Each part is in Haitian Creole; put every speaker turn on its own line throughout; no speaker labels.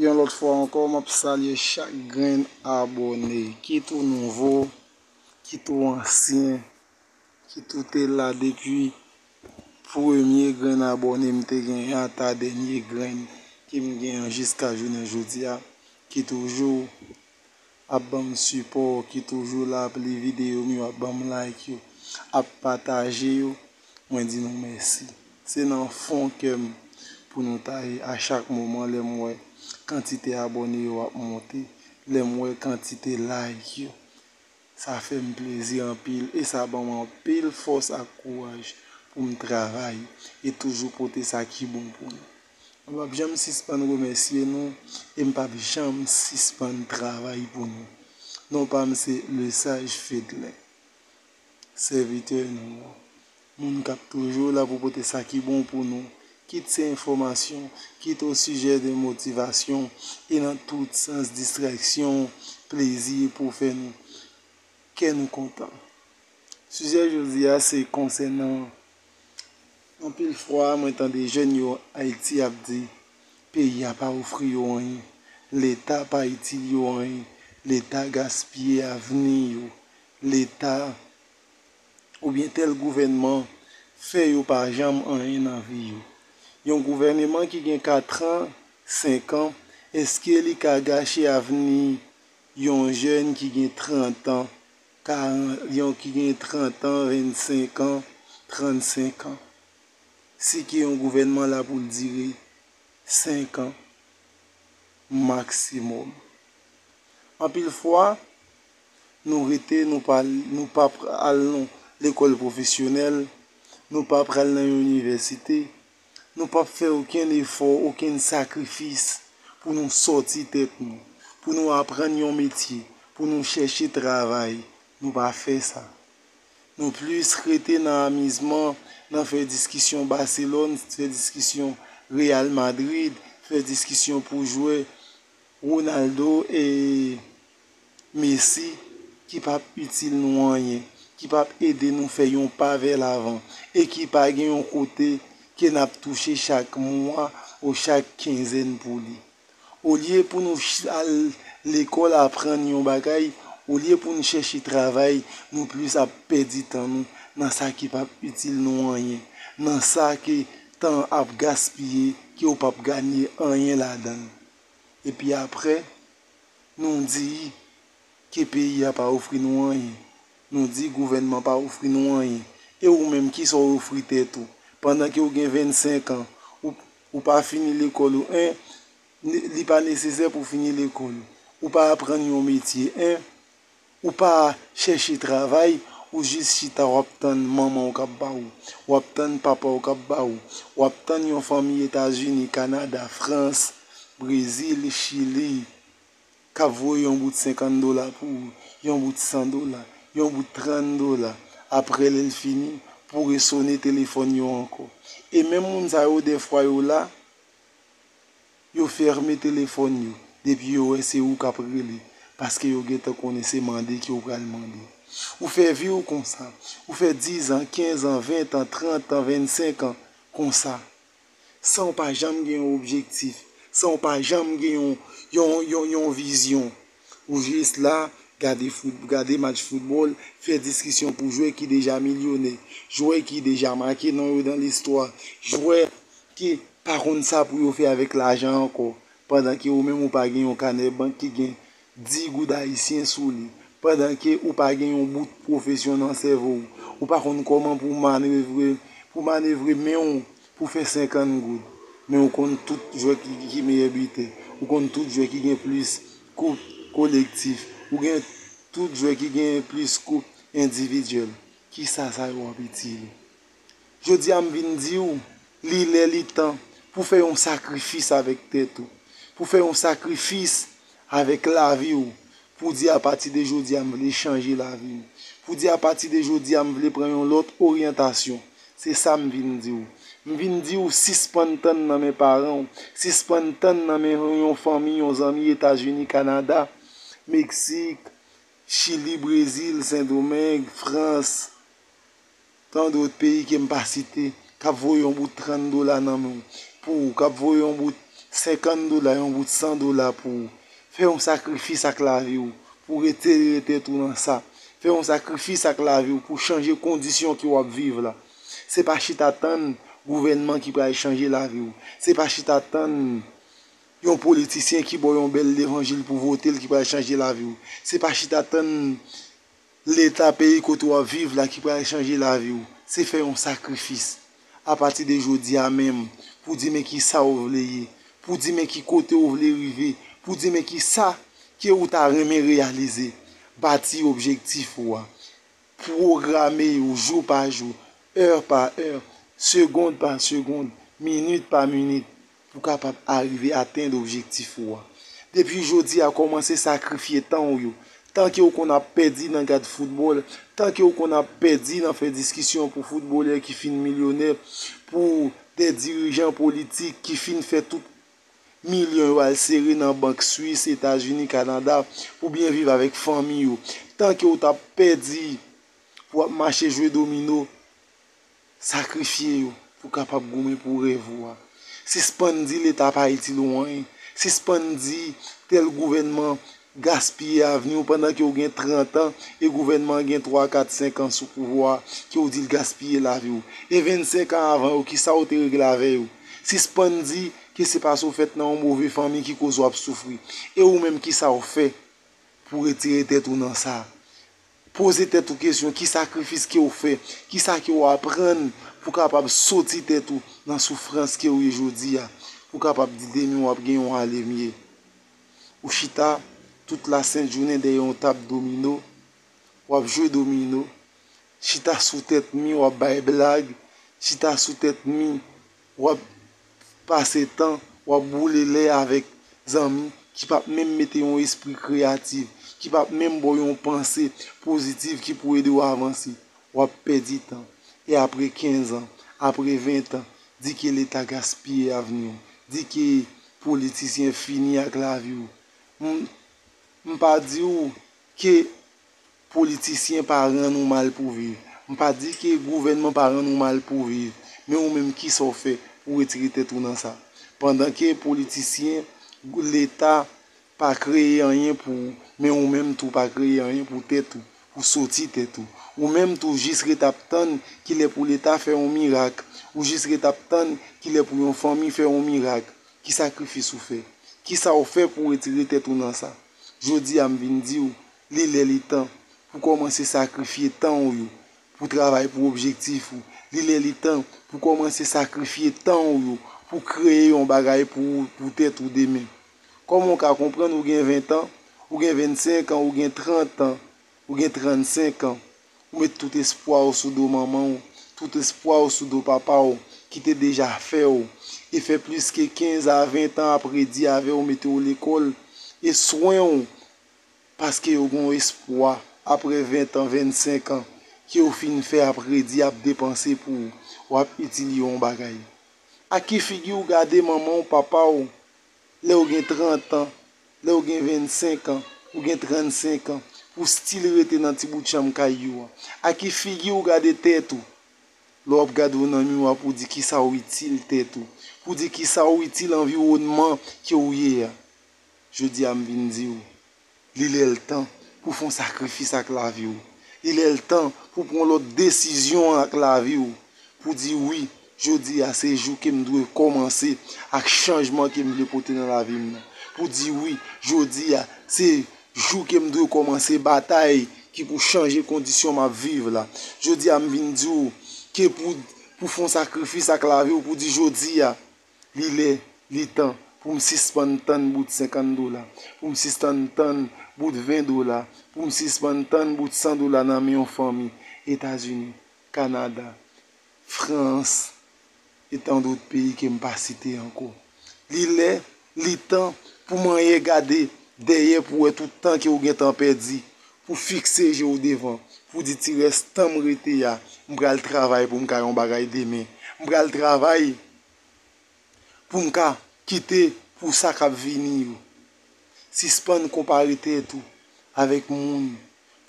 Yon lòt fwa ankò m ap salye chak grenn abòne, kit ou nouvo, kit ou ansyen, kit ou te la depi premye grenn abòne m te gen an ata dènye grenn ke m gen an jiska jounen jodi a, kit ou jou ap banm sipò w ki toujou la ap li videyo m yo ap banm like yo ap pataje yo mwen di nou mèsi se nan fon kè m pou nou ta ye a chak moman lè m wè kantite abòne yo ap monte lè m wè kantite like yo sa fè m plezi anpil e sa banm anpil fòs ak kouraj pou m travay e toujou pote sa ki bon pou nou. Mwen pap janm sispann remèsye nou e m pap janm sispann travay pou nou. Non pa m se Lesage Fedlin, sèvitè nou an, moun k ap toujou la pou pote sa ki bon pou nou, kit se enfòmasyon, kit osijè de motivasyon e nan tout sans distrèksyon, plezi e pou fè nou kè nou kontan. Sijè jodi a se konsènan Anpil fwa mwen tande jèn yo Ayiti ap di peyi a pa ofri yo anyen, leta pa itil yo anyen, leta gaspiye avni yo, leta oubyen tèl gouvènman fè yo pa janm anyen nan vi yo. Yon gouvèneman ki gen katran, senkan, eske li ka gache avni yon jèn ki gen trantan, Karan yon ki gen 30 an, 25 an, 35 an. Si ki yon gouvènman la pou l dire 5 an maksimòm. Anpil fwa, nou rete nou pa nou pa al nan lekòl pwofesyonèl, nou pa pral nan yon inivèsite, Nou pap fè okenn efò, okenn sakrifis pou nou sòti tèt nou, pou nou aprann yon metye, pou nou chèche travay. Nou pa fè sa. Nou plis rete nan amizman, nan fè diskisyon Baselòn, fè diskisyon Reyal Madrid, fè diskisyon pou jwè Ronaldo e. mesi, ki pap itil nou anyen, ki pap ede nou fè yon pa vè lavan e ki pa gen yon kote ke nap touche chak mwa ou chak kenzèn pou li. Olye pou nou al lekòl aprann yon bagay, olye pou nou chèche travay, nou plis ap pèdi tan nou nan sa ki pap itil nou anyen, nan sa ke tan ap gaspiye ke ou pap ganye anyen ladan l. Epi aprè? Nou di ke peyi a pa ofri nou anyen. Nou di gouvènman pa ofri nou anyen. E ou menm kisa w ofri tèt ou? Pandan ke w gen 25 an, ou pa fini lekòl ou 1, li pa nesesè pou w fini lekòl. Ou pa aprann yon metye 1, Ou pa chèche travay, ou jis chita wap tann manman w kap ba ou, wap tann papa w kap ba ou, wap tann yon fanmi Etazini, Kanada, Frans, Brezil, Chili kap voye yon bout 50 dola pou ou, yon bout 100 dola, yon bout 30 dola, aprè lè l fini pou resone telefòn yo ankò. E menm moun sa yo dèfwa yo la Yo ferme telefòn yo depi yo wè se ou kap rele paske yo gentan konnen se mande ke ou pral mande. Ou fè vi ou konsa, ou fè 10 an, 15 an, 20 an, 30 an, 25 an konsa. San ou pa janm gen yon objektif, san ou pa janm gen yon vizyon. Pou jis la, gade match foutbòl, fè diskisyon pou jwè ki deja milyonè, jwè ki deja make non yo nan listwa, jwè ki pa konn sa pou yo fè avèk lajan ankò, pandan ke ou menm ou pa gen yon kanè bank ki gen 10 goud ayisyen sou li, pandan ke ou pa gen yon bout pwofesyon nan sèvo w, ou pa konn kòman pou manevre men w pou fè 50 goud men ou konn tout jwè ki meyè bitè ou konn tout jwè ki gen plis koup kolektif ou gen tout jwè ki gen plis koup endividyèl kisa sa yo ap itil ou jodi a m vin di ou li lè li tan pou fè yon sakrifis avèk tèt ou pou fè yon sakrifis Avèk lavi ou. Pou di a pati de jodi a m vle chanje lavi m. Pou di a pati de jodi a m vle pran yon lòt oryantasyon. Se sa m vin di ou. M vin di ou sispann tann nan men paran ou, sispann tann nan men yon fanmi, yon zanmi Etazini, Kanada, Meksik, Chili, Brezil, Sendomeng, Frans. Tande ot peyi ke m pa site k ap voye yon bout 30 dola nan men w pou ou, k ap voye yon bout 50 dola, yon bout 100 dola pou ou. Fè yon sakrifis ak lavi w pou w retere tèt ou nan sa. Fè yon sakrifis ak lavi w pou w chanje kondisyon ke w ap viv la. Se pa chita tann gouvènman ki pral chanje lavi w. Se pa chita tann yon politisyen ki ba w yon bèl levanjil pou w vote l ki pral chanje lavi w. Se pa chita tann Leta peyi kote w ap viv la ki pral chanje lavi w, se fè yon sakrifis, apati de jodi a menm, pou di men ki sa ou vle ye, pou di men ki kote ou vle rive, pou di men ki sa ke ou ta renmen reyalize. Bati objektif ou a. Pwograme yo jou pa jou, è pa è, segond pa segond, minit pa minit, pou kapab arive atenn objektif ou a. Depi jodi a kòmanse sakrifye tan ou yo, tan ke ou konn ap pèdi nan gad foutbòl, tan ke ou konn ap pèdi nan fè diskisyon pou foutbolè ki fin milyonè, pou de dirijan politik ki fin fè tout milyon yo al sere nan bank Swis, Etazini, Kanada pou byen viv avèk fanmi yo. Tan ke ou t ap pèdi pou ap mache jwe domino Sakrifye yo pou kapab goumen pou rèv ou a. Sispann di leta pa itil ou anyen. Sispann di tèl gouvènman gaspiye avni ou pandan ke ou gen 30 an e gouvènman an gen 3, 4, 5 an sou pouvwa a ke ou di l gaspiye lavi ou. E 25 an avan yo ki sa ou te regle avè yo? Sispann di ke se paske ou fèt nan yon move fanmi ki koz ou ap soufri. E ou menm ki sa ou fè pou retire tèt ou nan sa? Poze tèt ou kesyon, ki sakrifis ke ou fè? Ki sa ke ou aprann pou kapab soti tèt ou nan soufrans ke ou ye jodi a? Pou kapab di demen ou ap gen yon ale mye. Ou chita tout la sent jounen dèyè yon tab domino, ou ap jwe domino, chita sou tèt mi ou ap bay blag, chita sou tèt mi wap pase tan, wap boule lè avèk zanmi ki pap menm mete yon espri kreyatif, ki pap menm ba w yon panse pozitif ki pou ede w avanse. Wap pèdi tan. E apre 15 an, apre 20 an, di ke leta gaspiye avni w, di ke politisyen fini ak lavi w. M pa di w ke Politisyen pa rann ou mal pou viv. M pa di ke gouvènman pa rann ou mal pou viv. Men ou menm kisa w fè pou retire tèt ou nan sa? Pandan ke politisyen, leta pa kreye anyen pou ou, men ou menm tou pa kreye anyen pou tèt ou, pou soti tèt ou. Ou menm tou jis ret ap tann kilè pou leta fè yon mirak. Ou jis ret ap tann kilè pou yon fanmi fè yon mirak. Ki sakrifis ou fè? Kisa w fè pou retire tèt ou nan sa? Jodi a m vin di w. Li lè li tan pou kòmanse sakrifye tan ou yo pou travay pou objektif ou. Li lè li tan pou kòmanse sakrifye tan ou yo pou kreye yon bagay pou ou, pou tèt ou demen. Kòman ou ka konprann ou gen 20 tan, ou gen 25 an, ou gen 30 an, ou gen 35 an, ou met tout espwa ou sou do manman ou, tout espwa ou sou do papa ou ki te deja fè ou e fè plis ke 15 a 20 tan ap redi avè ou, mete ou lekòl e swen ou Paske yo gen yon espwa apre 20 an, 25 an ke ou fin fè ap redi, ap depanse pou ou. Ou ap itil yo yon bagay. Ak ki figi ou gade manman ou, papa ou lè ou gen 30 an, lè ou gen 25 an, ou gen 35 an, pou w stil rete nan ti bout chanm kay yo a? Ak ki figi ou gade tèt ou? Lè w ap gade ou nan miwa pou w di kisa ou itil tèt ou, pou w di kisa ou itil anviwònman ke ou ye a, Jodi a m vin di w, li lè l tan pou w fè yon sakrifis ak lavi w. Li lè l tan pou w pran yon lòt desizyon ak lavi w, pou w di wi, jodi a se jou ke m dwe kòmanse ak chanjman ke m vle pote nan lavi m nan. Pou w di wi, jodi a se jou ke m dwe kòmanse batay ki pou chanje kondisyon m ap viv la. Jodi a m vin di w ke pou w fè yon sakrifis ak lavi w, pou w di jodi a. Li lè, li tan pou m sispann tann bout senkann dola, pou m sistann tann bout ven dola, pou m sispann tann bout san dola nan men yon fanmi. Etazini, Kanada, Frans e tandot peyi ke m pa site ankò. Li lè, li tan pou manyen gade dèyè pou wè tout tan ke ou gentan pèdi, pou fikse je w devan, pou di ti rès tan m rete a, m pral travay pou m ka yon bagay demen. M pral travay pou m ka kite pou sa k ap vini yo. Sispann konpare tèt ou avèk moun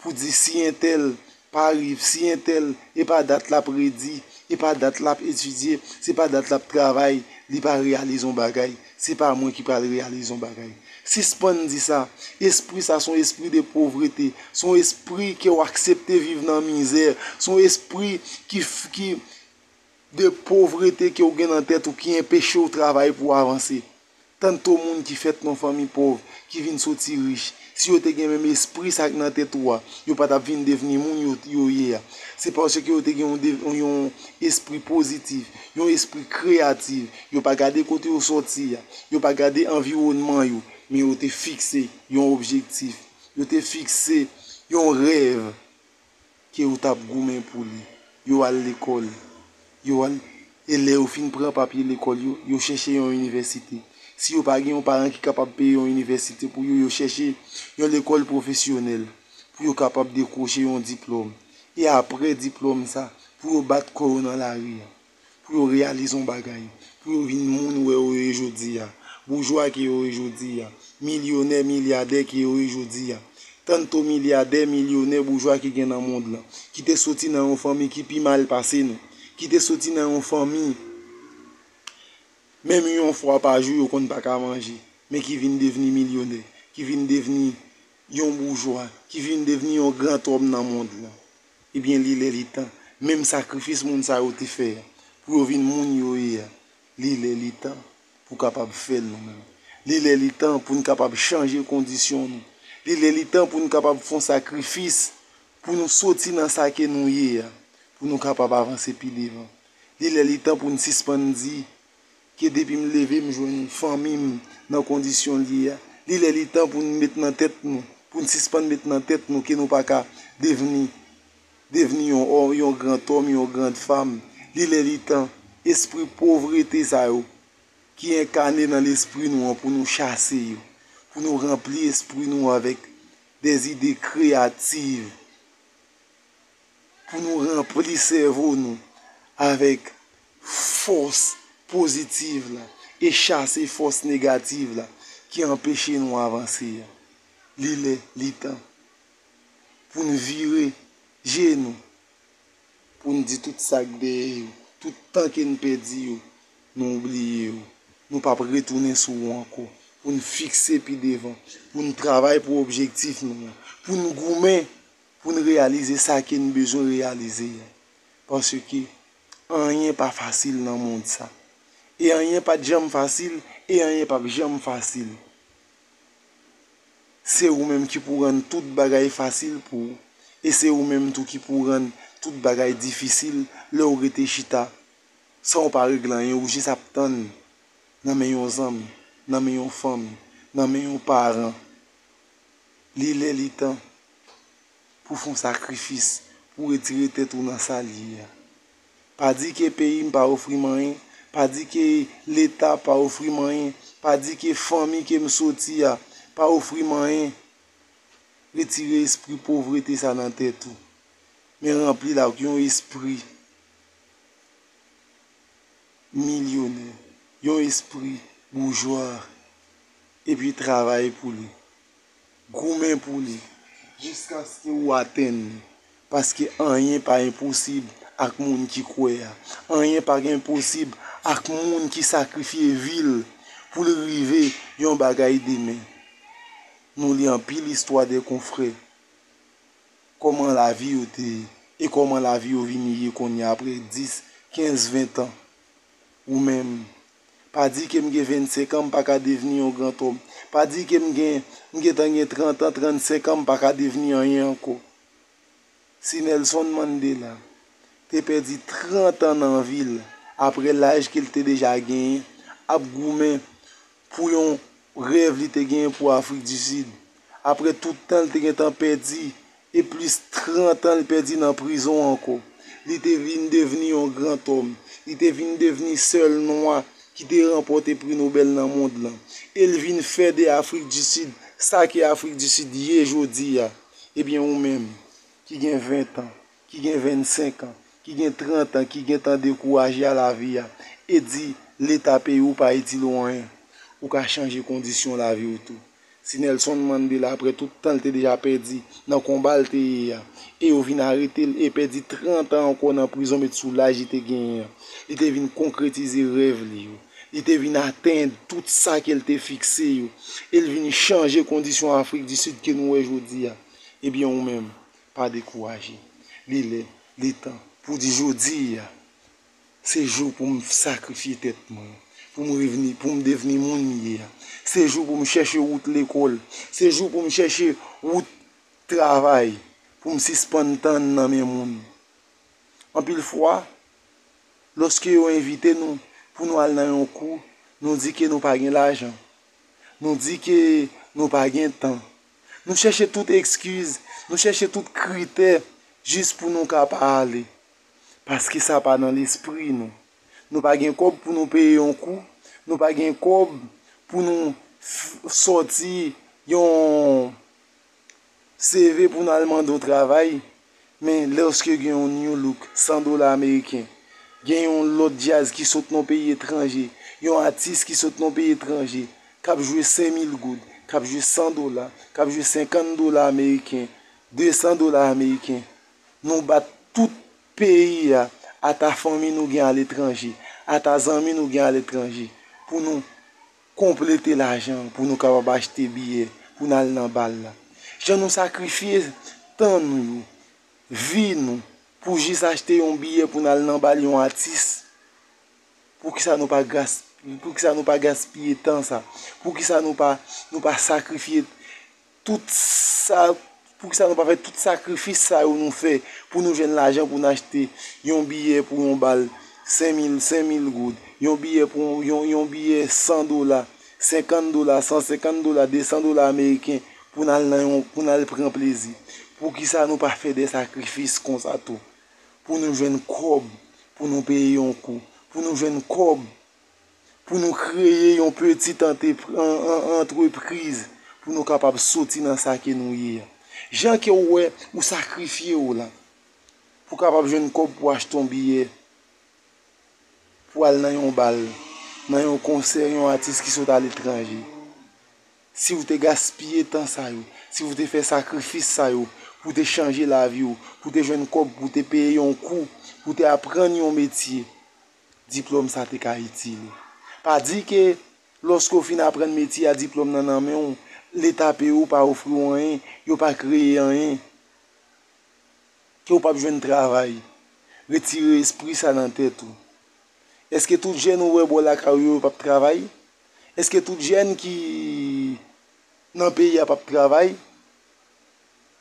pou di si entèl pa rive, si entèl e pa dat l ap redi, e pa dat l ap etidye, se pa dat l ap travay, li pa reyalize yon bagay. Se pa mwen ki pral reyalize yon bagay. Sispann di sa. Espri sa son espri de povrete. Son espri ke w aksepte viv nan mizè. Son espri ki ki de povrete ke w gen nan tèt ou ki enpeche w travay pou w avanse. Tanto moun ki fèt nan fanmi pov, ki vin soti rich, Si yo te gen menm espri sa k nan tèt ou a, yo pa t ap vin devni moun yo ye a. Se paske yo te gen yon espri pozitif, yon espri kreyatif. Yo pa gade kote yo soti a, yo pa gade anviwònman yo, men yo te fikse yon objektif, yo te fikse yon rèv. ke ou tap goumen pou li yo al lekòl yo al e lè yo fin pran papye lekòl yo yo chèche yon inivèsite si yo pa gen yon paran ki kapab peye yon inivèsite pou yo yo chèche yon lekòl pwofesyonèl pou yo kapab dekwoche yon diplòm e apre diplòm sa pou yo bat kò yo nan lari a. pou yo reyalize yon bagay, pou yo vin moun wè yo ye jodi a, boujwa ki yo ye jodi a, milyonè, milyadè ki yo ye jodi a. Tanto milyadè, milyonè, boujwa ki gen nan mond lan, ki te soti nan yon fanmi ki pi mal pase nou, ki te soti nan yon fanmi menm yon fwa pa jou yo konn pa ka manje, men ki vin devni milyonè, ki vin devni yon boujwa, ki vin devni yon grantòm nan mond lan. Ebyen li lè li tan, menm sakrifis moun sa yo te fè a, pou yo vin moun yo ye a, li lè li tan pou kapab fè l nou menm. Li lè li tan pou n kapab chanje kondisyon nou. Li lè li tan pou n kapab fon sakrifis pou nou soti nan sa ke nou ye a, pou nou kapab avanse pi devan. Li lè li tan pou n sispann di Ke depi m leve m jwenn fanmi m nan kondisyon l ye a. Li lè li tan pou n met nan tèt nou, pou n sispann met nan tèt nou ke nou pa ka devni, devni yon òm, yon gran òm, yon gran fanm. Li lè li tan, espri povrete sa yo ki enkane nan lespri nou an pou nou chase yo. Pou nou ranpli espri nou avèk de zide kreyativ. pou nou ranpli sèvo nou avèk fòs pozitiv la e chase fòs negativ la ki anpeche nou avanse a. Li lè, li tan pou n vire je nou, pou n di tout sa k dèyè yo, tout tan ke n pèdi yo, nou bliye yo. Nou p ap retounen sou yo ankò. Pou n fikse pi devan, pou n travay pou objektif nou an, pou n goumen pou n reyalize sa ke n bezwen reyalize a. Paske anyen pa fasil nan mond sa. E anyen pa t janm fasil, e anyen pa p janm fasil. Se ou menm ki pou rann tout bagay fasil pou ou. E se ou menm tou ki pou rann tout bagay difisil lè ou rete chita san ou pa regle anyen, ou jis ap tann nan men yon zanmi, nan men yon fanmi, nan men yon paran. Li lè li tan pou fon sakrifis pou retire tèt ou nan sal ye a. Pa di ke peyi m pa ofri m anyen, pa di ke leta pa ofri m anyen, pa di ke fanmi ke m soti a pa ofri m anyen. Retire espri povrete sa nan tèt ou, men ranpli l ak yon espri milyonè, yon espri boujwa. Epi travay pou li. Goumen pou li jiskaske ou atenn li. Paske anyen pa enposib ak moun ki kwè a. Anyen pa enposib ak moun ki sakrifye vi l pou l rive yon bagay demen. Nou li anpil istwa de konfrè. Kòman lavi yo te ye. E kòman lavi yo vini ye kounye a apre 10, 15, 20 tan. Ou menm, Pa di ke m gen 25 an m pa ka devni yon grantòm. Pa di ke m gen, m gentan gen 30 an, 35 an m pa ka devni anyen ankò. Si Nelson Mandela te pèdi 30 an nan vi l apre laj ke l te deja genyen ap goumen pou yon rèv li te genyen pou Afrik di Sid, apre tout tan l te gentan pèdi e plis 30 an l pèdi nan prizon ankò. Li te vin devni yon grantòm. Li te vin devni sèl nwa ki te ranpòte pri Nobèl nan mond lan. E l vin fè de Afrik di Sid sa ke Afrik di Sid ye jodi a. Ebyen ou menm, ki gen 20 tan, ki gen 25 an, ki gen 30 an, ki gentan dekouraje a lavi a, e di Leta peyi ou pa itil ou anyen, ou ka chanje kondisyon lavi ou tou. Si Nelson Mandela apre tout tan l te deja pèdi nan konba l te ye a, e yo vin arete l e pèdi 30 an ankò nan prizon met sou laj li te genyen an, li te vin konkretize rèv li yo, li te vin atenn tout sa ke l te fikse yo, e l vin chanje kondisyon Afrik di Sid ke nou wè jodi a, ebyen ou menm, pa dekouraje. Li lè, li tan, pou w di jodi a, Se jou pou m sakrifye tèt mwen, pou m revni, pou m devni moun m ye a. Se jou pou m chèche wout lekòl, se jou pou m chèche wout travay, pou m sispann tann nan men moun. Anpil fwa, lòske yo envite nou pou nou al nan yon kou, nou di ke nou pa gen lajan, nou di ke nou pa gen tan. Nou chèche tout ekskiz, nou chèche tout kritè jis pou nou ka pa ale. Paske sa pa nan lespri nou. Nou pa gen kòb pou nou peye yon kou. Nou pa gen kòb pou nou sòti yon CV pou nou al mande yon travay. Men lèske gen yon new look, 100 dola ameriken. Gen yon lòt djaz ki sot nan yon peyi etranje. Yon atis ki sot nan yon peyi etranje. Kap jwe 5000 goud. Kap jwe 100 dola. Kap jwe 50 dola ameriken. 200 dola ameriken. Nou bat tout peyi a, ata fanmi nou gen aletranje, ata zanmi nou gen aletranje, pou nou konplete lajan an, pou nou kapab achte biyè pou n al nan bal la. Jan nou sakrifye tan nou yo, vi nou, pou jis achte yon biyè pou n al nan bal yon atis, poukisa nou pa gas, poukisa nou pa gaspiye tan sa? Poukisa nou pa, nou pa sakrifye? tout sa, pou ki sa nou pa fè tout sakrifis sa yo nou fè pou nou jwenn lajan pou nou achte yon biyè pou yon bal 5000, 5000 goud, yon biyè pou yon, yon biyè 100 dola, 50 dola, 150 dola, 200 dola ameriken pou nou al nan yon, pou nou al pran plezi. Pou ki sa nou pa fè de sakrifis kon sa tou pou nou jwenn kòb pou nou peye yon kou, pou nou jwenn kòb. pou nou kreye yon petit entreprise pou nou kapab soti nan sa ke nou ye. Jan ke ou wè ou sakrifye ou la pou kapab jwenn kòb pou achte yon biyè pou al nan yon bal, nan yon konsè yon atis ki sot aletranje. Si ou te gaspiye tan sa yo, si ou te fè sakrifis sa yo pou te chanje lavi ou, pou te jwenn kòb pou te peye yon kou, pou te aprann yon metye, diplòm sa te ka itil ou. Pa di ke lòske ou fin aprann metye a diplòm nan nan men ou, leta peye ou pa ofri ou anyen, yo pa kreye anyen, ke ou pap jwenn travay. Retire espri sa nan tèt ou. Eske tout jèn ou wè bò lakay ou yo yo pap travay? Eske tout jèn ki nan peyi a pap travay?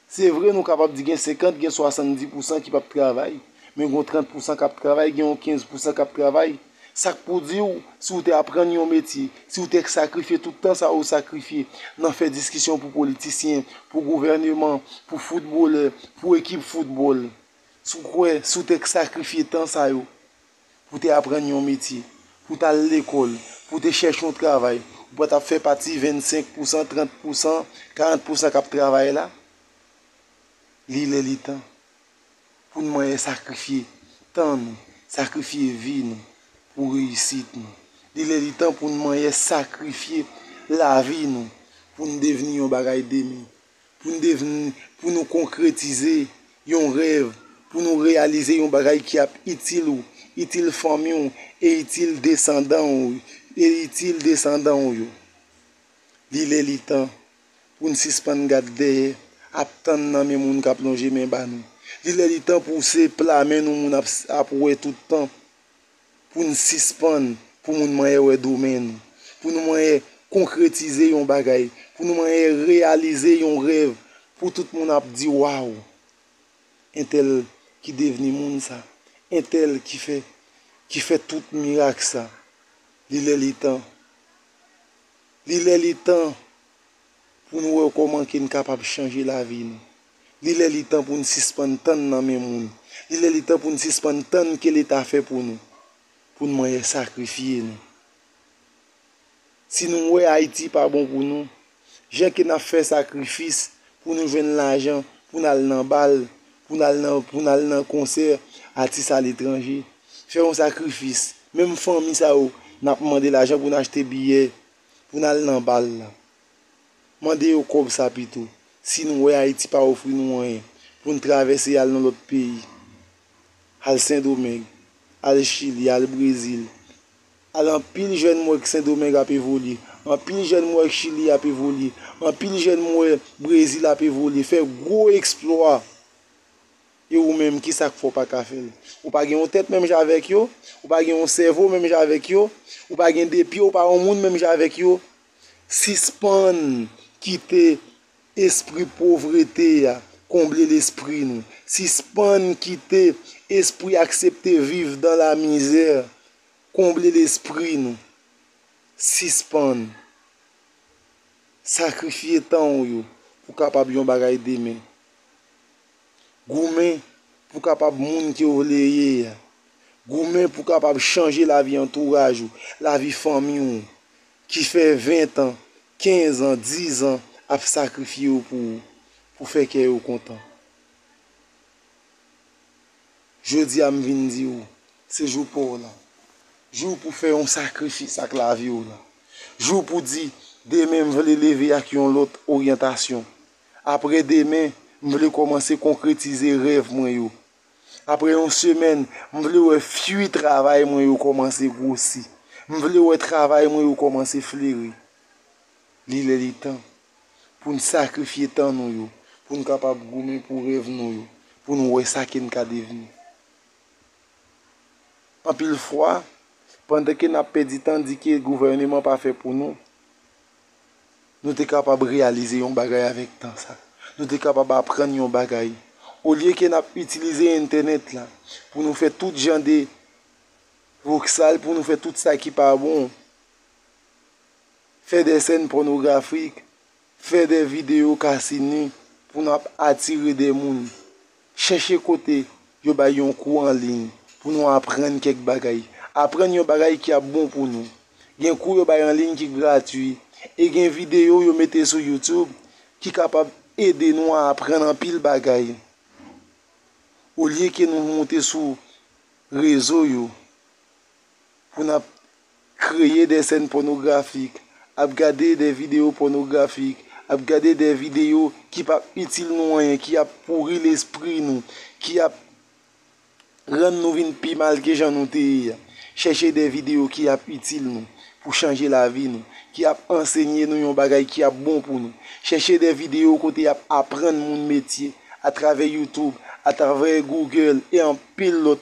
Se vre nou kapab di gen 50, gen 70 pousan ki p ap travay, men gen yon 30 pousan k ap travay, gen yon 15 pousan k ap travay. Sa k pou di w, si w te aprann yon metye, si w te sakrifye tout tan sa ou sakrifye nan fè diskisyon pou politisyen, pou gouvèneman, pou foutbolè, pou ekip foutbòl, si w kwè, si w te sakrifye tan sa yo, pou w te aprann yon metye, pou w t al lekòl, pou w te chèche yon travay, ou pa t ap fè pati 25 pousan, 30 pousan, 40 pousan k ap travay la? Li lè li tan pou n manyen sakrifye tan nou, sakrifye vi nou pou reyisit nou. Li lè li tan pou n manyen sakrifye lavi nou pou n devni yon bagay demen. pou n devni, pou nou konkretize yon rèv, pou nou reyalize yon bagay ki ap itil ou, itil fanmi w e itil desandan w, e itil desandan w yo. Li lè li tan pou n sispann gad dèyè ap tann nan men moun k ap lonje men ba nou. Li lè li tan pou se pla men nou moun ap wè tout tan. pou n sispann pou moun manyen wè do men nou, pou nou manyen konkretize yon bagay, pou nou manyen reyalize yon rèv, pou tout moun ap di waw, entèl ki devni moun sa, entèl ki fè, ki fè tout mirak sa. Li lè li tan, li lè li tan pou nou wè kòman ke n kapab chanje lavi nou. Li lè li tan pou n sispann tann nan men moun. Li lè li tan pou n sispann tann ke leta fè pou nou. Pou n manyè sakrifye nou. Si nou wè Ayiti pa bon pou nou, jan ke n ap fè sakrifis pou nou jwenn lajan pou n al nan bal, pou n al nan, pou n al nan konsè atis aletranje, fè yon sakrifis, menm fanmi sa yo n ap mande lajan pou n achte biyè pou n al nan bal la. Mande yo kòb sa pito. Si nou wè Ayiti pa ofri nou anyen, pou n travèse al nan lòt peyi, al Sendomeng, al Chili, al Brezil, al anpil jèn m wè k Sendomeng ap evolye, anpil jèn m wè k Chili ap evolye, anpil jèn m wè Brezil ap evolye, fè gwo eksplwa. E ou menm, ki sa k fè w pa ka fè l? Ou pa gen yon tèt menm jan avèk yo? Ou pa gen yon sèvo menm jan avèk yo? Ou pa gen de pye, ou pa yon moun menm jan avèk yo? Sispann kite espri povrete a konble lespri nou. Sispann kite espri aksepte viv dan la mizè konble lespri nou. Sispann sakrifye tan ou yo pou kapab yon bagay demen. Goumen pou kapab moun ke w vle ye a. Goumen pou kapab chanje lavi antouraj ou, lavi fanmi ou. Ki fè 20 tan, 15 an, 10 an ap sakrifye yo pou ou, pou fè kè yo kontan. Jodi a m vin di ou, se jou pa w lan. Jou pou fè yon sakrifis ak lavi w lan. Jou pou di, demen m vle leve ak yon lòt oryantasyon. Aprè demen, m vle kòmanse konkretize rèv mwen yo. Apre yon semèn, m vle wè fui travay mwen yo kòmanse gwosi. M vle wè travay mwen yo kòmanse fleri. Li lè li tan pou n sakrifye tan nou yo, pou n kapab goumen pou rèv nou yo, pou n wè sa ke n ka devni. Anpil fwa, pandan ke n ap pèdi tan di ke gouvèneman pa fè pou nou, nou te kapab reyalize yon bagay avèk tan sa. Nou te kapab aprann yon bagay. Olye ke n ap itilize entènèt la pou nou fè tout jan de voksal, pou nou fè tout sa ki pa bon, fè de sèn pònografik, fè de videyo kasi ni pou n ap atire de moun Chèche kote yo bay yon kou an liy pou nou aprann kèk bagay. Aprann yon bagay ki ap bon pou nou. Gen kou yo bay an liy ki gratwi, e gen videyo yo mete sou YouTube ki kapab ede nou aprann anpil bagay olye ke nou moute sou rezo yo pou n ap kreye de sèn pònografik, ap gade de videyo pònografik, ap gade de videyo ki pap itil nou anyen, ki ap pouri lespri nou, ki ap rann nou vin pi mal ke jan nou te ye a. Chèche de videyo ki ap itil nou pou chanje lavi nou, ki ap ansenye nou yon bagay ki ap bon pou nou. Chèche de videyo kote y ap aprann moun metye atravè Youtube, atravè Google e anpil lòt.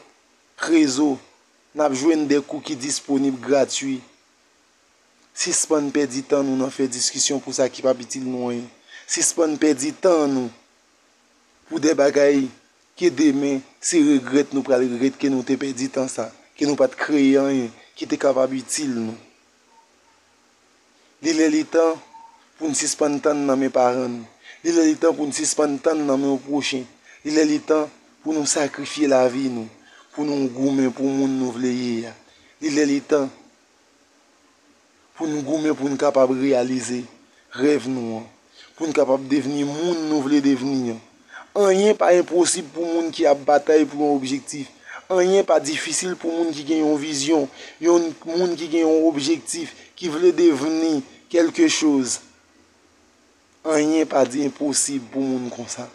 Krezo, N ap jwenn de kou ki disponib gratwi. Sispann pèdi tan nou nan fè diskisyon pou sa ki p ap itil nou anyen. Sispann pèdi tan nou pou de bagay ke demen se regrèt nou pral regrèt ke nou te pèdi tan sa, ke nou pa t kreye anyen ki te kapab itil nou. Li lè li tan pou n sispann tann nan men paran nou. Li lè li tan pou n sispann tann nan men yon pwochen. Li lè li tan pou nou sakrifye lavi nou pou nou goumen pou moun nou vle ye a. Li lè li tan pou n goumen pou n kapab reyalize rèv nou an. Pou n kapab devni moun nou vle devni an. Anyen pa enposib pou moun ki ap batay pou yon objektif. Anyen pa difisil pou moun ki gen yon vizyon, yon moun ki gen yon objektif, ki vle devni kèlke choz. Anyen pa enposib pou moun konsa.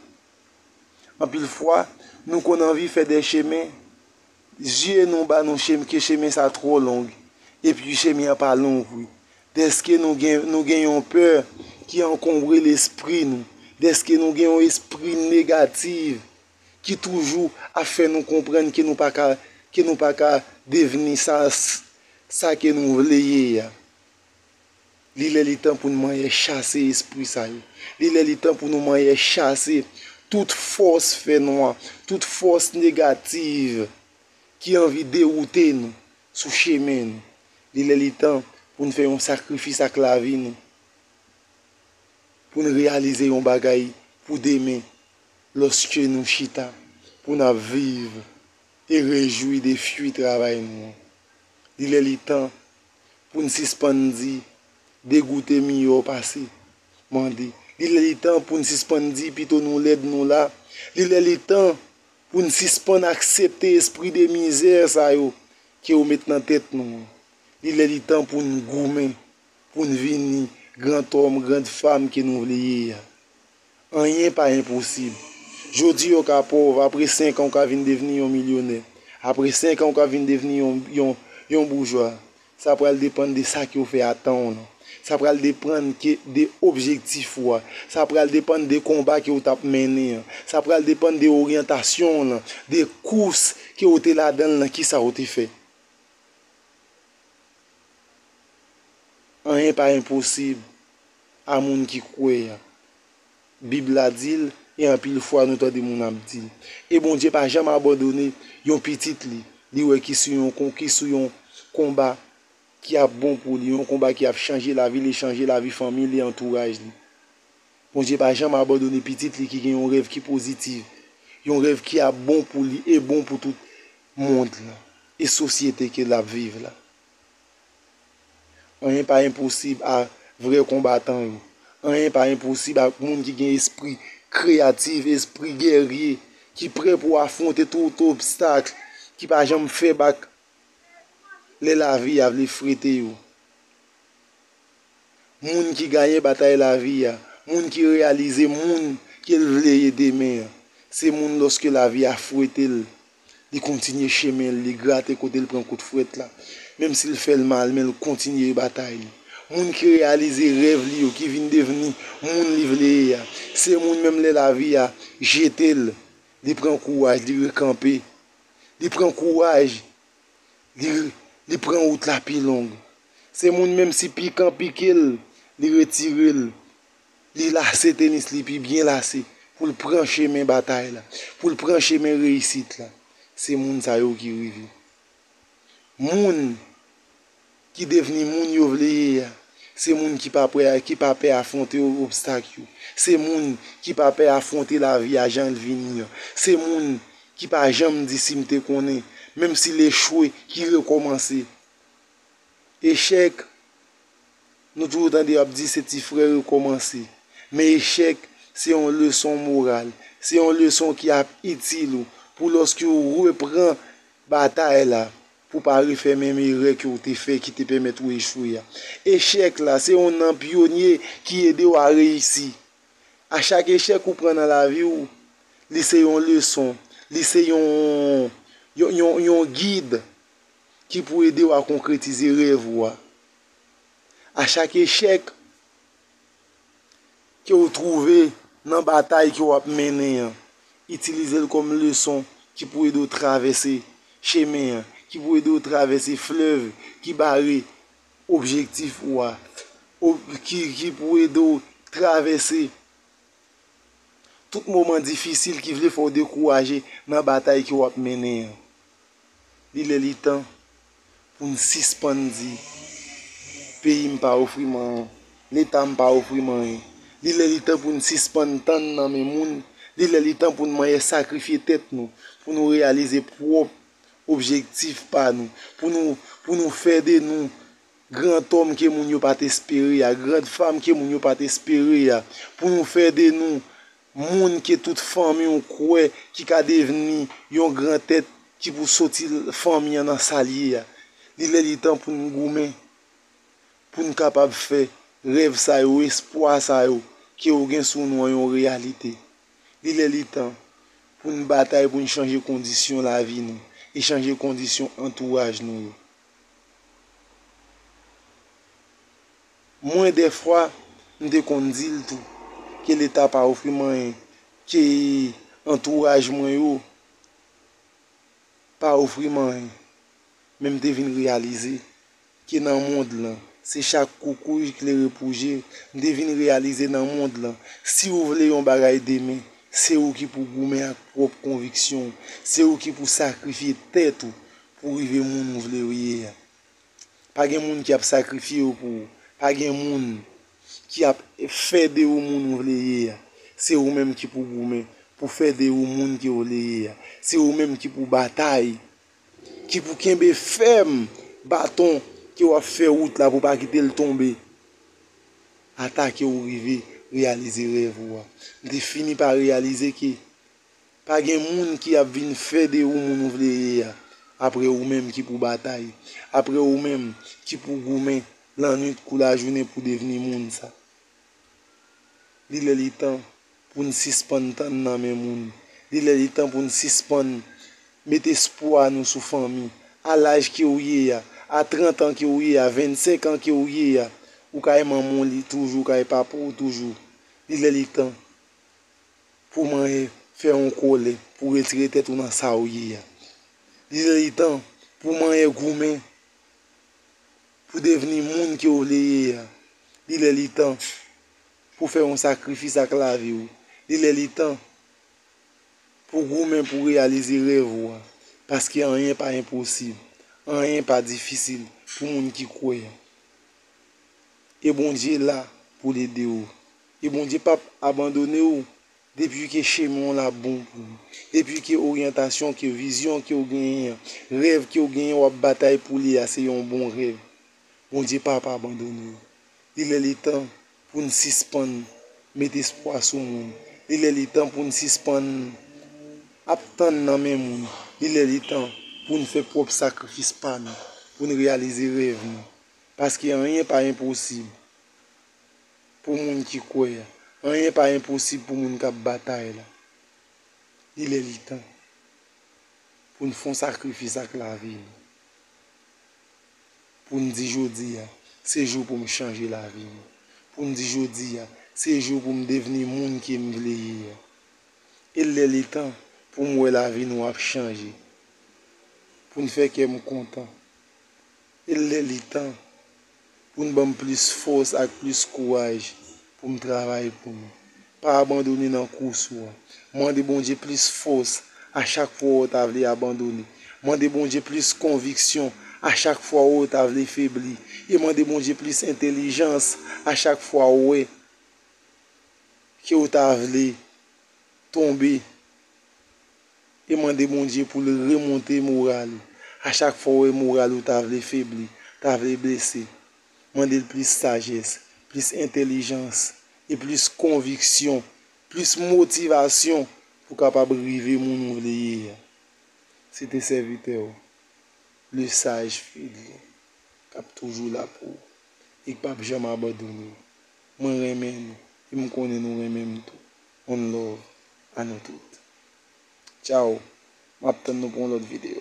Anpil fwa, nou konn anvi fè dè chemen, zye nou ba nou ke chemen sa twò long, epi chemen an pa long vre, dèske nou gen yon pè ki ankonbre lespri nou, dèske nou gen yon espri negatif ki toujou ap fè nou konprann ke nou pa ka devni sa ke nou vle ye a. Li lè li tan pou nou manyè chase espri sa yo. Li lè li tan pou nou manyè chase tout fòs fè nwa, tout fòs negativ ki anvi dewoute nou sou chemen nou. Li lè li tan pou nou fè yon sakrifis ak lavi nou, pou nou reyalize yon bagay pou demen lòske nou chita pou nou ap viv e rejwi de fwi travay nou an. Li lè li tan pou n sispann di degoute miyò pase mande. Li lè li tan pou n sispann di pito nou lèd nou la. Li lè li tan pou n sispann aksepte espri de mizè sa yo ke yo met nan tèt nou an. Li lè li tan pou n goumen pou n vini grantòm, grandfam ke nou vle ye a. Anyen pa enposib. Jodi ou ka pòv, apre 5 an ou ka vin devni yon milyonè. Apre 5 an ou ka vin devni yon boujwa. Sa pral depann de sa ke ou fè a tan ou lan. Sa pral depann ke de objektif ou a. Sa pral depann de konba ke ou t ap mennen an. Sa pral depann de oryantasyon ou lan, de kous ke ou te ladan l lan ki sa ou te fè. Anyen pa enposib. a moun ki kwè a. Bib la di l, e anpil fwa nou tande moun ap di l. E Bondye pa janm abandone yon pitit li, li wè ki sou yon kon, ki sou yon konba ki ap bon pou li, yon konba ki ap chanje lavi l e chanje lavi fanmi l e antouraj li. Bondye pa janm abandone pitit li ki gen yon rèv ki pozitiv, yon rèv ki ap bon pou li e bon pou tout mond lan e sosyete ke l ap viv la. Anyen pa enposib a vrè konbatan yo. Anyen pa enposib ak moun ki gen espri kreyatif, espri gèrye, ki prè pou afwonte tout obstak, ki pa janm fè bak lè lavi a vle frete yo. moun ki gayen batay lavi a, moun ki reyalize moun ke l vle ye demen an, se moun lòske lavi a fwete l, li kontinye chemen l, li grate kote l pran kout fwèt la, menm si l fè l mal men l kontinye batay li. Moun ki reyalize rèv li yo, ki vin devni moun li vle ye a, se moun menm lè lavi a jete l, li pran kouraj, li rekanpe, li pran kouraj li pran wout la pi long. Se moun menm si pikan pike l, li retire l, li lase tenis li pi byen lase pou l pran chemen batay la, pou l pran chemen reyisit la. Se moun sa yo ki rive. Moun. ki devni moun yo vle ye a, se moun ki pa pwè, ki pa pè afwonte obstak yo, se moun ki pa pè afwonte lavi a jan l vini an, se moun ki pa janm di si m te konnen, menm si l echwe ki rekòmanse. Echèk, nou toujou tande yo ap di se ti frè rekòmanse, men echèk se yon leson moral, se yon leson ki ap itil ou pou lòske ou repran batay la. Pou w pa refè menm erè ke w te fè ki te pèmèt ou echwe a. Echèk la, se yon nan pyonye ki ede w a reyisi. A chak echèk ou pran nan lavi w, li se yon leson, li se yon gid ki pou ede w a konkretize rèv ou a. A chak echèk. ke ou twouve nan batay ke w ap mennen an, itilize l kòm leson ki pou ede w travèse chemen an, ki pou ede w travèse flèv ki bare objektif ou a, ki pou ede w travèse tout moman difisil ki vle fè w dekouraje nan batay ke w ap mennen an. Li lè li tan pou n sispann di peyi m pa ofri m anyen, Leta m pa ofri m anyen. Li lè li tan pou n sispann tann nan men moun, li lè li tan pou n manyè sakrifye tèt nou pou nou reyalize pwòp objektif pa nou, pou nou fè de nou grantòm ke moun yo pa t espere a, grandfam ke moun yo pa t espere a, pou nou fè de nou Moun ke tout fanmi ou kwè ki ka devni yon gran tèt ki pou soti fanmi an nan sa l ye a. Li lè li tan pou n goumen pou n kapab fè rèv sa yo, espwa sa yo ke ou gen sou nou an yon reyalite. Li lè li tan pou n batay pou n chanje kondisyon lavi nou e chanje kondisyon antouraj nou yo. Mwen dèfwa m te konn di l tou ke leta pa ofri m anyen, ke antouraj mwen yo pa ofri m anyen. Men m te vin reyalize ke nan mond lan, se chak koukouy klere pou je l. M te vin reyalize nan mond lan, si ou vle yon bagay demen, se ou ki pou goumen ak pwòp konviksyon ou, se ou ki pou sakrifye tèt ou pou rive moun ou vle ye a. Pa gen moun ki ap sakrifye yo pou ou. Pa gen moun ki ap fè de ou moun ou vle ye a. Se ou menm ki pou goumen pou fè de ou moun ke ou vle ye a. Se ou menm ki pou batay, ki pou kenbe fèm baton ke ou ap fè wout la pou pa kite l tonbe ata ke ou rive reyalize rèv ou a. M te fini pa reyalize ke Pa gen moun ki ap vin fè de ou moun ou vle ye a, apre ou menm ki pou batay, apre ou menm ki pou goumen lannwit kou lajounen pou devni moun sa. Li lè li tan pou n sispann tann nan men moun, li lè li tan pou n sispann met espwa nou sou fanmi. A laj ke ou ye a, a 30 an ke ou ye a, 25 an ke ou ye a, ou kay manman w li toujou, ou kay papa w toujou. Li lè li tan pou manyen fè yon kole pou retire tèt ou nan sa ou ye a. Li li tan pou manyen goumen pou devni moun ke ou vle ye a. Li lè li tan pou fè yon sakrifis ak lavi ou. Li lè li tan pou goumen pou reyalize rèv ou a. Paske anyen pa enposib. Anyen pa difisil pou moun ki kwè. E Bondye la pou l ede ou. e Bondye pap abandone ou depi ke chemen w la bon pou ou, depi ke oryantasyon ke vizyon ke w genyen an, rèv ke w genyen wap batay pou li a se yon bon rèv, Bondye pap abandone ou. Li lè li tan pou n sispann met espwa sou moun, li lè li tan pou n sispann ap tann nan men moun, li lè li tan pou n fè pwòp sakrifis pa nou, pou n reyalize rèv nou, paske anyen pa enposib pou moun ki kwè a. Anyen pa enposib pou moun k ap batay la. Li lè li tan pou n fon sakrifis ak lavi nou. Pou n di jodi a, se jou pou m chanje lavi m. Pou n di jodi a, se jou pou m devni moun ke m vle ye a. E l lè li tan pou m wè lavi nou ap chanje. Pou n fè kè m kontan. E lè li tan pou n ban m plis fòs ak plis kouraj pou m travay pou nou. Pa abandone nan kous ou an. Mande Bondye plis fòs a chak fwa ou ta vle abandone. Mande Bondye plis konviksyon a chak fwa ou ta vle febli. E mande Bondye plis entelijans a chak fwa ou wè ke ou ta vle tonbe. E mande Bondye pou l remonte moral ou. A chak fwa w wè moral ou ta vle febli, ta vle blese, mande l plis sajès, plis entelijans e plis konviksyon, plis motivasyon pou w kapab rive moun ou vle ye a. Se te sèvitè w, le saj Fredlin, k ap toujou la pou ou e k p ap janm abandone w. Mwen renmen nou e m konnen nou renmen m tou. One love a nou tout. Ciao map tann nou pou yon lot video.